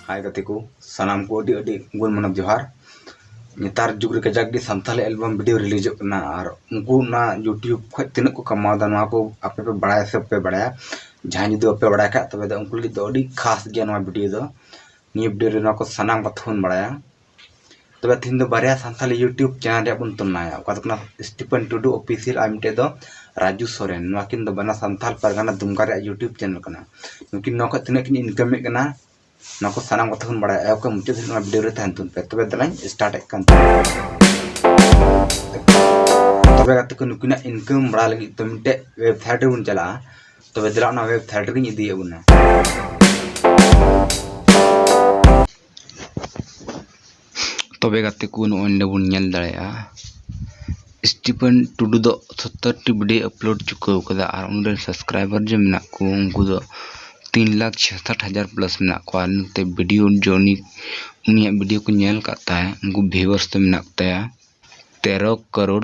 ᱦᱟᱭ ᱜᱟᱛᱮ ᱠᱚ ᱥᱟᱱᱟᱢ ᱠᱚ ᱟᱹᱰᱤ ᱟᱹᱰᱤ ᱜᱩᱱ ᱢᱟᱱᱚᱵ ᱡᱚᱦᱟᱨ ᱱᱮᱛᱟᱨ ᱡᱩᱜᱽ ᱨᱮ ᱠᱟᱡᱟᱠ ᱜᱮ ᱥᱟᱱᱛᱟᱞᱤ ᱮᱞᱵᱟᱢ ᱵᱷᱤᱰᱤᱭᱳ ᱨᱤᱞᱤᱡᱚᱜ ᱠᱟᱱᱟ ᱟᱨ ᱩᱱᱠᱩ ᱚᱱᱟ ᱤᱭᱩᱴᱤᱭᱩᱵᱽ ᱠᱷᱚᱡ ᱛᱤᱱᱟᱹᱜ ᱠᱚ ᱠᱟᱢᱟᱣᱫᱟ ᱱᱚᱣᱟ ᱠᱚ ᱟᱯᱮ ᱯᱮ ᱵᱟᱲᱟᱭᱟ ᱥᱮ ᱵᱟᱯᱮ ᱵᱟᱲᱟᱭᱟ ᱡᱟᱦᱟᱸᱭ ᱡᱩᱫᱤ ᱵᱟᱯᱮ ᱵᱟᱲᱟᱭ ᱠᱷᱟᱡ ᱛᱚᱵᱮ ᱫᱚ ᱩᱱᱠᱩ ᱞᱟᱹᱜᱤᱫ ᱫᱚ ᱟᱹᱰᱤ ᱠᱷᱟᱥ ᱜᱮᱭᱟ ᱱᱚᱣᱟ ᱵᱷᱤᱰᱤᱭᱳ ᱫᱚ ᱱᱤᱭᱟᱹ ᱵᱷᱤᱰᱤᱭᱳ ᱨᱮ ᱱᱚᱣᱟ ᱠᱚ ᱥᱟᱱᱟᱢ ᱠᱟᱛᱷᱟ ᱵᱚᱱ ᱵᱟᱲᱟᱭᱟ ᱛᱚᱵᱮ ᱛᱤᱦᱤᱧ ᱫᱚ ᱵᱟᱨᱭᱟ ᱥᱟᱱᱛᱟᱞᱤ ᱤᱭᱩᱴᱤᱭᱩᱵᱽ ᱪᱮᱱᱮᱞ ᱨᱮᱭᱟᱜ ᱵᱚᱱ ᱛᱩᱞᱱᱟᱭᱟ ᱚᱠᱟ ᱫᱚ ᱠᱟᱱᱟ ᱥᱴᱤᱯᱮᱱ ᱴᱩᱰᱩ ᱚᱯᱷᱤᱥᱤᱭᱟᱞ ᱟᱨ ᱢᱤᱫᱴᱮᱡ ᱫᱚ ᱨᱟᱡᱩ ᱥᱚᱨᱮᱱ ᱱᱚᱣᱟ ᱠᱤᱱ ᱫᱚ ᱵᱟᱱᱟ ᱥᱟᱱᱛᱟᱞ ᱯᱟᱨᱜᱟᱱᱟ ᱫᱩᱢᱠᱟ ᱨᱮᱭᱟᱜ ᱤᱭᱩᱴᱤᱭᱩᱵᱽ ᱪᱮᱱᱮᱞ ᱠᱟᱱᱟ ᱱᱩᱠᱤᱱ ᱱᱚᱣᱟ ᱠᱷᱚᱡ ᱛᱤᱱᱟᱹᱜ ᱠᱤᱱ ᱤᱱᱠᱟᱢᱮᱫ ᱠᱟᱱᱟ ᱱᱚᱣᱟ ᱠᱚ ᱥᱟᱱᱟᱢ ᱠᱟᱛᱷᱟ ᱵᱚᱱ ᱵᱟᱲᱟᱭᱟ ᱮᱦᱚᱵ ᱠᱷᱚᱱ ᱢᱩᱪᱟᱹᱫ ᱫᱷᱟᱹᱨᱤᱡ ᱱᱚᱣᱟ ᱵᱷᱤᱰᱤᱭᱳ ᱨᱮ ᱛᱟᱦᱮᱱ ᱛᱩᱱ ᱯᱮ ᱛᱚᱵᱮ ᱫᱮᱞᱟᱧ ᱥᱴᱟᱨᱴᱮᱫ ᱠᱟᱱ ᱛᱚᱵᱮ ᱜᱟᱛᱮ ᱠᱚ ᱱᱩᱠᱤᱱᱟᱜ ᱤᱱᱠᱟᱢ ᱵᱟᱲᱟᱭ ᱞᱟᱹᱜᱤᱫ ᱛᱚ ᱢᱤᱫᱴᱮᱡ ᱣᱮᱵᱥᱟᱭᱤᱴ ᱨᱮᱵᱚᱱ ᱪᱟᱞᱟᱜᱼᱟ ᱛᱚᱵᱮ ᱫᱮᱞᱟ ᱚᱱᱟ ᱣᱮᱵᱥᱟᱭᱤᱴ ᱨᱮᱜᱤᱧ ᱤᱫᱤᱭᱮᱫ ᱵᱚᱱᱟ ᱛᱚᱵᱮ ᱜᱟᱛᱮ ᱠᱚ ᱱᱚᱜᱼᱚᱭ ᱱᱚᱰᱮ ᱵᱚᱱ ᱧᱮᱞ ᱫᱟᱲᱮᱭᱟᱜᱼᱟ ᱥᱴᱤᱯᱷᱮᱱ ᱴᱩᱰᱩ ᱫᱚ ᱥᱚᱛᱛᱚᱨᱴᱤ ᱵᱷᱤᱰᱤᱭᱳ ᱟᱯᱞᱳᱰ ᱪᱩᱠᱟᱹᱣ ᱠᱟᱫᱟ ᱟᱨ ᱩᱱᱤᱨᱮᱱ ᱥᱟᱵᱥᱠᱨᱟᱭᱵᱟᱨ ᱡᱮ ᱢᱮᱱᱟᱜ ᱠᱚ ᱩᱱᱠᱩ ᱫᱚ ᱛᱤᱱ ᱞᱟᱠᱷ ᱪᱷᱮᱥᱟᱴ ᱦᱟᱡᱟᱨ ᱯᱞᱟᱥ ᱢᱮᱱᱟᱜ ᱠᱚᱣᱟ ᱟᱨ ᱱᱚᱛᱮ ᱵᱷᱤᱰᱤᱭᱳ ᱡᱚᱱᱤ ᱩᱱᱤᱭᱟᱜ ᱵᱷᱤᱰᱤᱭᱳ ᱠᱚ ᱧᱮᱞ ᱠᱟᱜ ᱛᱟᱭ ᱩᱱᱠᱩ ᱵᱷᱤᱭᱩᱣᱟᱨᱥ ᱫᱚ ᱢᱮᱱᱟᱜ ᱠᱚᱛᱟᱭᱟ ᱛᱮᱨᱚ ᱠᱟᱨᱳᱲ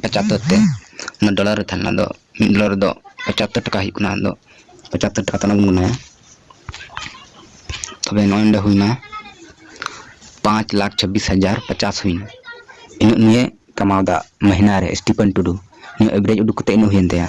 ᱯᱚᱸᱪᱟᱛᱳᱨ ᱛᱮ ᱚᱱᱟ ᱰᱚᱞᱟᱨ ᱨᱮ ᱛᱟᱦᱮᱸ ᱞᱮᱱᱟ ᱟᱫᱚ ᱢᱤᱫ ᱰᱚᱞᱟᱨ ᱨᱮᱫᱚ ᱯᱚᱸᱪᱟᱛᱳᱨ ᱴᱟᱠᱟ ᱦᱩᱭᱩᱜ ᱠᱟᱱᱟ ᱟᱫᱚ ᱯᱚᱸᱪᱟᱛᱳᱨ ᱴᱟᱠᱟ ᱛᱟᱞᱟᱝ ᱵᱚᱱ ᱜᱩᱱᱟᱹᱭᱟ ᱛᱚᱵᱮ ᱱᱚᱜᱼᱚᱭ ᱱᱚᱰᱮ ᱦᱩᱭᱱᱟ ᱯᱟᱸᱪ ᱞᱟᱠᱷ ᱪᱷᱟᱵᱵᱤᱥ ᱦᱟᱡᱟᱨ ᱯᱚᱪᱟᱥ ᱦᱩᱭᱱᱟ ᱤᱱᱟᱹᱜ ᱱᱤᱭᱮ ᱠᱟᱢᱟᱣᱫᱟ ᱢᱟᱹᱦᱱᱟᱹ ᱨᱮ ᱥᱴᱤᱯᱷᱟᱱ ᱴᱩᱰᱩ ᱱᱩᱭ ᱮᱵᱷᱨᱮᱡᱽ ᱩᱰᱩᱠ ᱠᱟᱛᱮᱫ ᱤᱱᱟᱹᱜ ᱦᱩᱭᱮᱱ ᱛᱟᱭᱟ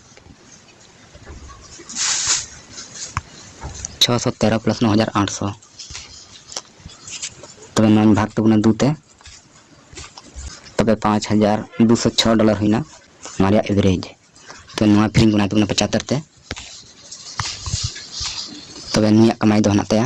ᱪᱷᱚ ᱥᱚ ᱛᱮᱨᱚ ᱯᱞᱟᱥ ᱱᱚ ᱦᱟᱡᱟᱨ ᱟᱴᱥᱚ ᱛᱚᱵᱮ ᱱᱚᱣᱟᱧ ᱵᱷᱟᱜᱽ ᱛᱟᱵᱚᱱᱟ ᱫᱩ ᱛᱮ ᱛᱚᱵᱮ ᱯᱟᱸᱪ ᱦᱟᱡᱟᱨ ᱫᱩᱥᱚ ᱪᱷᱚ ᱰᱚᱞᱟᱨ ᱦᱩᱭᱱᱟ ᱱᱚᱣᱟ ᱨᱮᱭᱟᱜ ᱮᱵᱷᱨᱮᱡᱽ ᱛᱚᱵᱮ ᱱᱚᱣᱟ ᱯᱷᱤᱨᱤᱧ ᱜᱩᱱᱟᱭ ᱛᱟᱵᱚᱱᱟ ᱯᱚᱸᱪᱟᱛᱛᱚᱨ ᱛᱮ ᱛᱚᱵᱮ ᱱᱩᱭᱟᱜ ᱠᱟᱢᱟᱭ ᱫᱚ ᱦᱮᱱᱟᱜ ᱛᱟᱭᱟ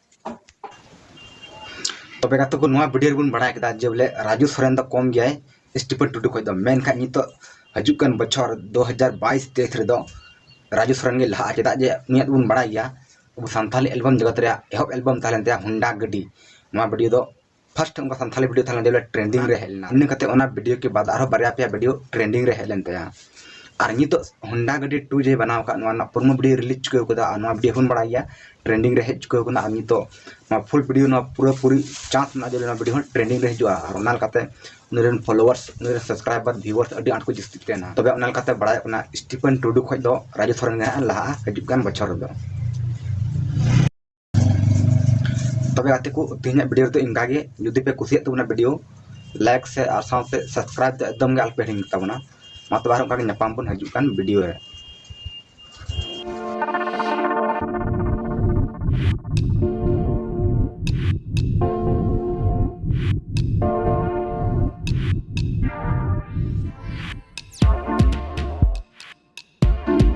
ᱛᱚᱵᱮ ᱜᱟᱛᱮ ᱠᱚ ᱱᱚᱣᱟ ᱵᱷᱤᱰᱤᱭᱳ ᱨᱮᱵᱚᱱ ᱵᱟᱲᱟᱭ ᱠᱮᱫᱟ ᱡᱮ ᱵᱚᱞᱮ ᱨᱟᱡᱩ ᱥᱚᱨᱮᱱ ᱫᱚ ᱠᱚᱢ ᱜᱮᱭᱟᱭ ᱥᱴᱤᱯᱷᱮᱱ ᱴᱩᱰᱩ ᱠᱷᱚᱱ ᱫᱚ ᱢᱮᱱᱠᱷᱟᱱ ᱱᱤᱛᱚᱜ ᱦᱤᱡᱩᱜ ᱠᱟᱱ ᱵᱚᱪᱷᱚᱨ ᱫᱩ ᱦᱟᱡᱟᱨ ᱵᱟᱭᱤᱥ ᱛᱮᱭᱤᱥ ᱨᱮᱫᱚ ᱨᱟᱡᱩ ᱥᱚᱨᱮᱱ ᱜᱮ ᱞᱟᱦᱟᱜᱼᱟ ᱪᱮᱫᱟᱜ ᱡᱮ ᱩᱱᱤᱭᱟᱜ ᱫᱚᱵᱚᱱ ᱵᱟᱲᱟᱭ ᱜᱮᱭᱟ ᱟᱵᱚ ᱥᱟᱱᱛᱟᱞᱤ ᱮᱞᱵᱟᱢ ᱡᱚᱜᱚᱛ ᱨᱮᱭᱟᱜ ᱮᱦᱚᱵ ᱮᱞᱵᱟᱢ ᱛᱟᱦᱮᱸ ᱞᱮᱱ ᱛᱟᱭᱟ ᱦᱩᱱᱰᱟ ᱜᱟᱹᱰᱤ ᱱᱚᱣᱟ ᱵᱷᱤᱰᱤᱭᱳ ᱫᱚ ᱯᱷᱟᱥᱴ ᱚᱱᱠᱟ ᱥᱟᱱᱛᱷᱟᱞᱤ ᱵᱷᱤᱰᱤᱭᱳ ᱛᱟᱦᱮᱸ ᱞᱮᱱ ᱛᱟᱭᱟ ᱴᱨᱮᱱᱰᱤᱝ ᱨᱮ ᱦᱮᱡ ᱞᱮᱱᱟ ᱤᱱᱟᱹ ᱠᱟᱛᱮ ᱚᱱᱟ ᱵᱷᱤᱰᱤᱭᱳ ᱠᱮ ᱵᱟᱫ ᱟᱨᱦᱚᱸ ᱵᱟᱨᱭᱟ ᱯᱮᱭᱟ ᱵᱷᱤᱰᱤᱭᱳ ᱴᱨᱮᱱᱰᱤᱝ ᱨᱮ ᱦᱮᱡ ᱞᱮᱱ ᱛᱟᱭᱟ ᱟᱨ ᱱᱤᱛᱚᱜ ᱦᱳᱱᱰᱟ ᱜᱟᱹᱰᱤ ᱴᱩ ᱡᱮ ᱵᱮᱱᱟᱣ ᱟᱠᱟᱫ ᱱᱚᱣᱟ ᱨᱮᱱᱟᱜ ᱯᱨᱳᱢᱳ ᱵᱷᱤᱰᱤᱭᱳ ᱨᱤᱞᱤᱡᱽ ᱪᱩᱠᱟᱹᱣ ᱠᱟᱫᱟ ᱟᱨ ᱱᱚᱣᱟ ᱵᱷᱤᱰᱤᱭᱳ ᱦᱚᱸᱵᱚᱱ ᱵᱟᱲᱟᱭ ᱜᱮᱭᱟ ᱴᱨᱮᱱᱰᱤᱝ ᱨᱮ ᱦᱮᱡ ᱪᱩᱠᱟᱹᱣ ᱠᱟᱱᱟ ᱟᱨ ᱱᱤᱛᱚᱜ ᱱᱚᱣᱟ ᱯᱷᱩᱞ ᱵᱷᱤᱰᱤᱭᱳ ᱱᱚᱣᱟ ᱯᱩᱨᱟᱹ ᱯᱩᱨᱤ ᱪᱟᱱᱥ ᱢᱮᱱᱟᱜᱼᱟ ᱡᱮ ᱱᱚᱣᱟ ᱵᱷᱤᱰᱤᱭᱳ ᱦᱚᱸ ᱴᱨᱮᱱᱰᱤᱝ ᱨᱮ ᱦᱤᱡᱩᱜᱼᱟ ᱟᱨ ᱚᱱᱟ ᱞᱮᱠᱟᱛᱮ ᱩᱱᱤ ᱨᱮᱱ ᱯᱷᱚᱞᱳᱣᱟᱨᱥ ᱩᱱᱤ ᱨᱮᱱ ᱥᱟᱵᱥᱠᱨᱟᱭᱵᱟᱨ ᱵᱷᱤᱣᱟᱨᱥ ᱟᱹᱰᱤ ᱟᱸᱴ ᱠᱚ ᱡᱟᱹᱥᱛᱤᱜ ᱠᱟᱱᱟ ᱛᱚᱵᱮ ᱚᱱᱟ ᱞᱮᱠᱟᱛᱮ ᱵᱟᱲᱟᱭᱚᱜ ᱠᱟᱱᱟ ᱥᱴᱤᱯᱷᱮᱱ ᱴᱩᱰᱩ ᱠᱷᱚᱱ ᱫᱚ ᱨᱟᱡᱩ ᱥᱚᱨᱮᱱ ᱜᱮ ᱦᱟᱸᱜ ᱞᱟᱦᱟᱜᱼᱟ ᱦᱤᱡᱩᱜ ᱠᱟᱱ ᱵᱚᱪᱷᱚᱨ ᱨᱮᱫᱚ ᱛᱚᱵᱮ ᱜᱟᱛᱮ ᱠᱚ ᱛᱮᱦᱮᱧᱟᱜ ᱵᱷᱤᱰᱤᱭᱳ ᱨᱮᱫᱚ ᱤᱱᱠᱟ ᱜᱮ ᱡᱩᱫᱤ ᱯᱮ ᱠᱩᱥᱤᱭᱟᱜ ᱛᱟᱵᱚᱱᱟ ᱵᱷᱤᱰᱤᱭᱳ ᱞᱟᱭᱤᱠ ᱥᱮ ᱟᱨ ᱥᱟᱶᱛᱮ ᱥᱟᱵᱥᱠᱨᱟᱭᱤᱵ ᱫᱚ ᱮᱠᱫᱚᱢ ᱜᱮ ᱟᱞᱚᱯᱮ ᱦᱤᱲᱤᱧ ᱛᱟᱵᱚᱱᱟ ᱢᱟ ᱛᱚᱵᱮ ᱟᱨ ᱚᱱᱠᱟ ᱜᱮ ᱧᱟᱯᱟᱢ ᱵᱚᱱ ᱦᱤᱡᱩᱜ ᱠᱟᱱ ᱵᱷᱤᱰᱤᱭᱳ ᱨᱮ